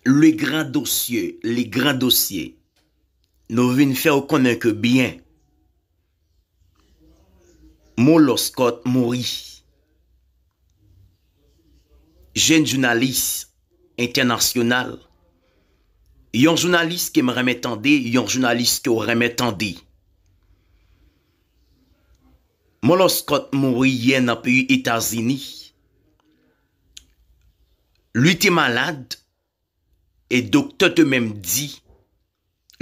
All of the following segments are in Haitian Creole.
Le grand dosye, le grand dosye, nou vin fè ou konnen ke byen Mo Lòskòt mouri. Jenn jounalis entènasyonal, yon jounalis ke m renmen tande, yon jounalis ke w renmen tande. Mo Lòskòt mouri yè nan peyi Etazini. Li te malad e doktè te menm di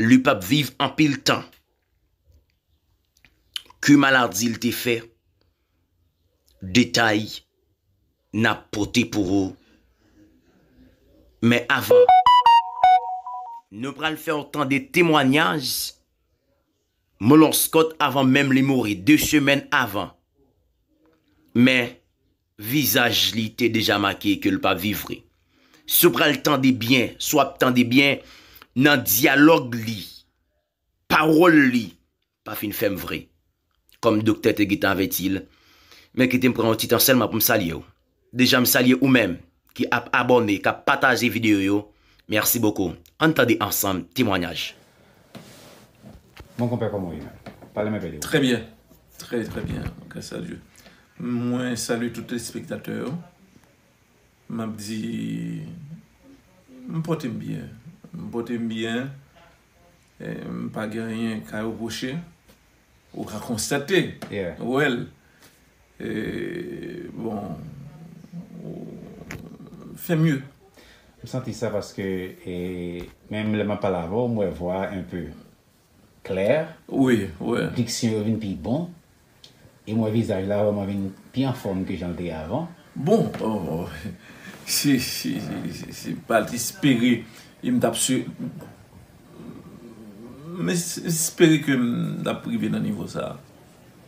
li p ap viv anpil tan. Ki maladi li te fè? Detay n ap pote pou ou men avan, nou pral fè w tande temwanyaj Molonskot avan menm li mouri, de semèn avan. Men, Vizaj li te deja make ke l pa viv vre. Si w pral tande byen, si w ap tande byen, nan dyalòg li, pawòl li pa fin fèm vre. Kòm doktè te gentan avèti l, men kite m pran yon ti tan sèlman pou m salye w. Deja m salye ou menm, ki ap abòne, kap pataje video yo, merci beaucoup. Ann tande ansanm temwanyaj. Bon konpè koman ou ye menm? Pale m enpe de ou. Trè byen, trè trè byen gras a Dye. Mwen salye tout telespektatè yo. M ap di m pòte m byen, m pòte m byen, m pa gen anyen ka repwoche. Ou ka konstate, wè l. Bon fè mye. M santi sa paske menm lè map pale avèw m wè vwa a enpe klè, diksyon yo vin pi bon e m wè vizaj la vrèman vin pi anfòm ke janl te ye avan. Bon se pa te espere e m tap espere ke m tap rive nan nivo sa.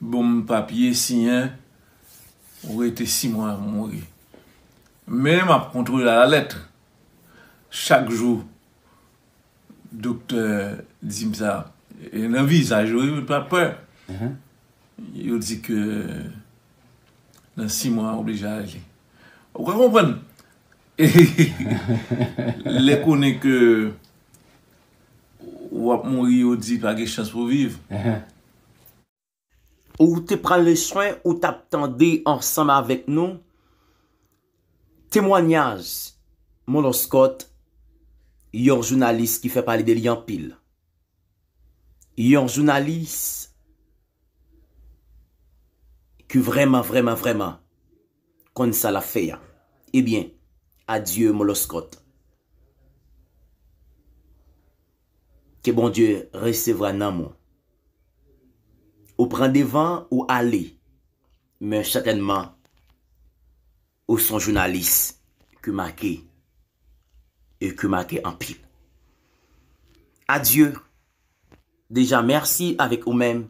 Bonm papye siyen ou rete si mwa m mouri men map kontrole a la lèt chak jou doktè dim sa e nan vizaj yo yo pa pè yo di ke nan si mwa oblije ale ou ka konprann lè konnen ke wap mouri yo di pa gen chans pou viv. Ou te pran leswen ou t ap tande ansanm avèk nou temwanyaj Monlòskòt, yon jounalis ki fè pale de li anpil. Yon jounalis ki vrèman vrèman vrèman. konn sa lap fè a ebyen adye moloskot ke bondye resevra nanm ou ou pran devan ou ale men sètènman ou son jounalis ki make e ki make anpil adye deja mèsi avèk ou menm.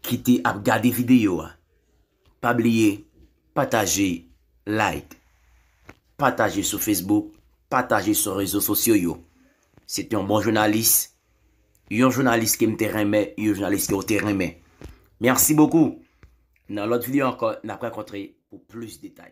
ki te ap gade video a pa bliye pataje like pataje sou Facebook pataje sou rezo sosyo yo se te yon bon jounalis yon jounalis ke m te renmen yon jounalis ke ou te renmen merci beaucoup nan lot video anko nap rakontre pou plis detay.